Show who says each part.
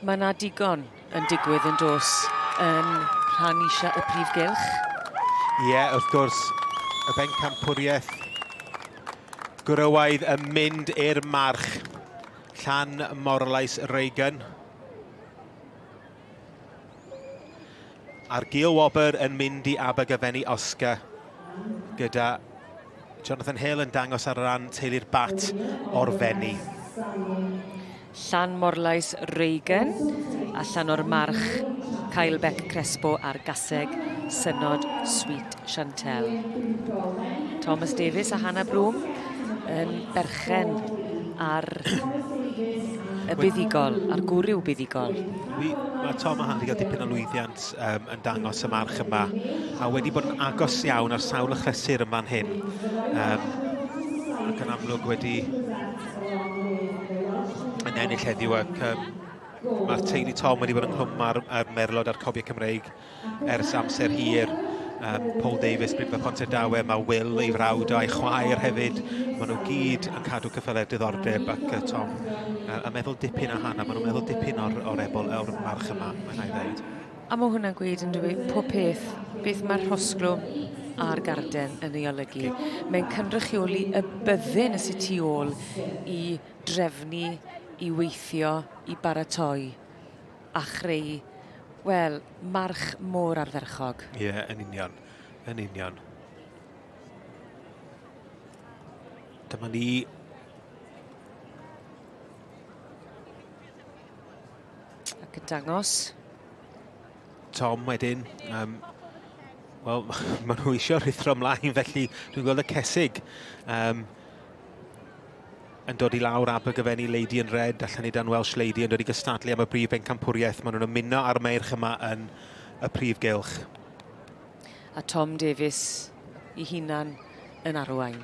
Speaker 1: Mae yna digon yn digwydd yn dos yn rhan eisiau y prif gylch. Ie, yeah,
Speaker 2: wrth gwrs, y bencampwriaeth gwrywaidd yn mynd i'r march. Llan Morlais Reagan. A'r gil wobr yn mynd i Abergavenny Oscar gyda Jonathan Hill yn dangos ar ran teulu'r bat o'r Fenni.
Speaker 1: Llan Morlais Reagan allan o'r march Kyle Beck Crespo a'r gaseg Synod Sweet Chantelle Thomas Davies a Hannah Bloom yn berchen ar y buddugol, ar gwrw buddugol. Wi, mae Tom
Speaker 2: a Hannah wedi cael dipyn o lwyddiant um, yn dangos y march yma, a wedi bod yn agos iawn ar sawl y chlysur yn fan hyn. Um, ac yn amlwg wedi yn ennill heddiw ac um, mae'r teulu Tom wedi bod ynghlwm ar, ar merlod a'r cobiau Cymreig Ers amser hir, um, Paul Davies, Bryn Pont y Dawe, mae Will, ei frawd a'i chwaer hefyd, maen nhw gyd yn cadw cyffely'r diddordeb ac uh, Tom uh, yn meddwl dipyn a Hannah, maen nhw'n meddwl dipyn o'r, or ebol, o'r march yma, mae'n rhaid ddeud. A mae hwnna'n gweud
Speaker 1: yn dwi pob peth, beth mae'r rhosglwm a'r garden yn ei olygu. Mae'n cynrychioli y byddin y sut i ôl i drefnu, i weithio, i baratoi. a chreu, wel, march mor ardderchog. Ie, yeah, yn union.
Speaker 2: Yn union. Dyma ni
Speaker 1: ac yn dangos.
Speaker 2: Tom wedyn, um, wel, maen nhw eisiau rhithro ymlaen, felly dwi'n gweld y cesig. Um, yn dod i lawr Abergavenny Lady in Red a Llanidan Welsh Lady yn dod i gystadlu am y brif bencampwriaeth. Maen nhw'n ymuno â'r meirch yma yn y prif gylch.
Speaker 1: A Tom Davies i hunan yn arwain.